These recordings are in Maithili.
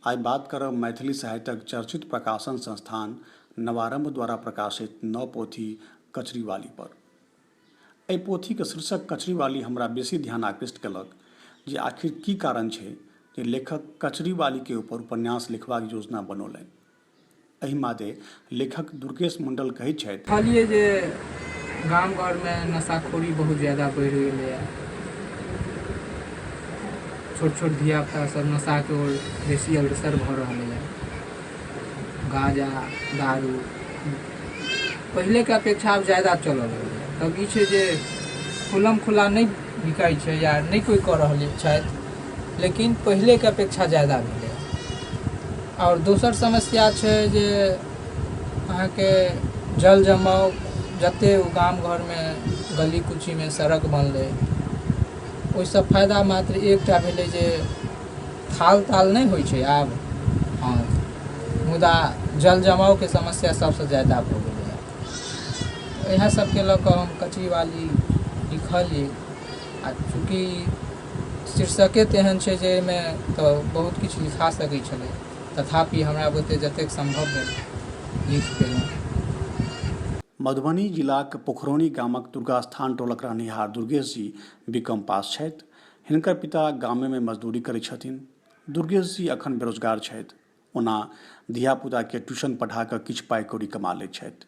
आइ बात करब मैथिली साहित्यक चर्चित प्रकाशन संस्थान नवारम्भ द्वारा प्रकाशित नव पोथी कचरीवाली पर एहि पोथीक शीर्षक कचरीवाली हमरा बेसी ध्यान आकृष्ट केलक जे आखिर की कारण छै जे लेखक कचरीवाली के ऊपर उपन्यास लिखबाक योजना बनौलनि एहि मादे लेखक दुर्गेश मंडल कहैत छथि। कहलियै जे गाम-घर मे नशाखोरी बहुत ज्यादा बढ़ि गेलै हँ। छोट-छोट धिया-पुता सब नशा के ओर बेसी अग्रसर भऽ रहलै हँ। गाँजा, दारू पहिले के अपेक्षा आब ज्यादा चलऽ लगलै हँ। तब ई छै जे खुलम-खुला नहि बिकाइ छै या नहि कोइ कऽ रहल छथि। लेकिन पहिलेके अपेक्षा जादा भेलै हँ आओर दोसर समस्या छै जे अहाँके जल जमाव जते ओ गाम घरमे गली कुचीमे सड़क बनलै ओहिसँ फायदा मात्र एकटा भेलै जे थाल ताल नहि होइ छै आब हँ मुदा जल जमावके समस्या सबसँ जादा भऽ गेलै हँ इएह सबके लऽ कऽ हम कचरी वाली लिखलियै आ चूँकि शीर्षके तेहन छै जे एहिमे तऽ बहुत किछु लिखा सकै छलै तथापि हमरा बुते जतेक सम्भव भेल लिख देलहुँ। मधुबनी जिलाक पोखरौनी गामक दुर्गास्थान टोलक रहनिहार दुर्गेश जी बीकॉम पास छथि। हिनकर पिता गामेमे मजदूरी करै छथिन। दुर्गेश जी अखन बेरोजगार छथि। ओना धिया-पुताकेँ ट्यूशन पढ़ा कऽ किछु पाइ-कौड़ी कमा लैत छथि।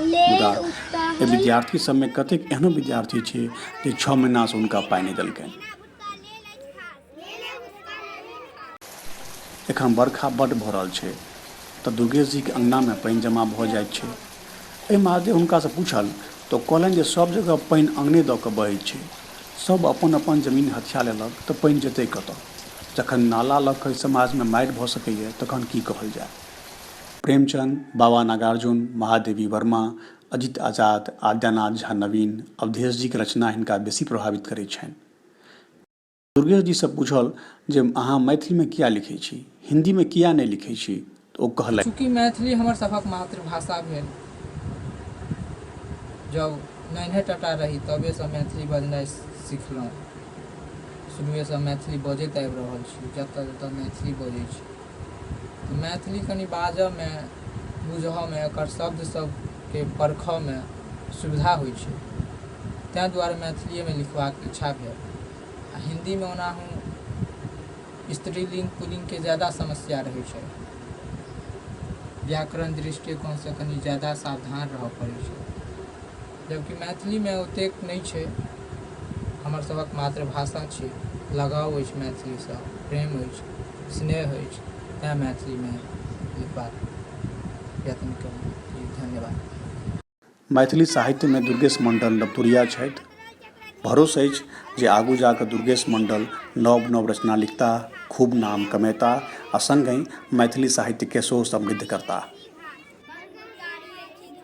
मुदा एहि विद्यार्थी सभमे कतेक एहनो विद्यार्थी छै जे छओ महीनासँ हुनका पाइ नहि देलकनि एखन बरखा बड्ड भऽ रहल छै तऽ दुर्गेशजीके अङ्गनामे पानि जमा भऽ जाइत छै एहि महादेव हुनकासँ पूछल तऽ कहलनि जे सभ जगह पानि अङ्गने दऽ कऽ बहै छै सभ अपन अपन जमीन हथिया लेलक तऽ पानि जेतै कतऽ जखन नाला लऽ कऽ समाजमे मारि भऽ सकैए तखन की कहल जाय प्रेमचंद, बाबा नागार्जुन, महादेवी वर्मा, अजित आजाद, आद्यानाथ झा नवीन, अवधेश जीक रचना हिनका बेसी प्रभावित करैत छनि। दुर्गेश जीसँ पूछल जे अहाँ मैथिलीमे किया लिखैत छी? हिन्दीमे किया नहि लिखैत छी? तऽ ओ कहलथि। चूँकि मैथिली हमर सभक मातृभाषा भेल। जब नन्हे टटा रही तबेसँ मैथिली बजनाइ सिखलहुँ। शुरुएसँ मैथिली बजैत आबि रहल छी। जतऽ-जतऽ मैथिली बजैत छी। मैथिली कनी बाजऽ मे, बुझऽ मे, एकर शब्द सब के परखऽ मे सुविधा होइ छै। तैं दुआरे मैथिलीए मे लिखबाक इच्छा भेल। आ हिन्दी मे ओनाहु स्त्रीलिंग, पुलिंग के ज्यादा समस्या रहै छै। व्याकरण दृष्टिकोण सँ कनी ज्यादा सावधान रहऽ पड़ै छै। जबकि मैथिलीमे ओतेक नहि छै हमर सभक मातृभाषा छी लगाव अछि मैथिलीसँ प्रेम अछि स्नेह अछि तैँ मैथिलीमे लिखबाक यत्न केलहुँ जी धन्यवाद मैथिली साहित्यमे दुर्गेश मण्डल नवतुरिया छथि भरोस अछि जे आगू जा कऽ दुर्गेश मण्डल नव नव रचना लिखता खूब नाम कमेता आ सङ्गहि मैथिली साहित्यके सेहो समृद्ध करता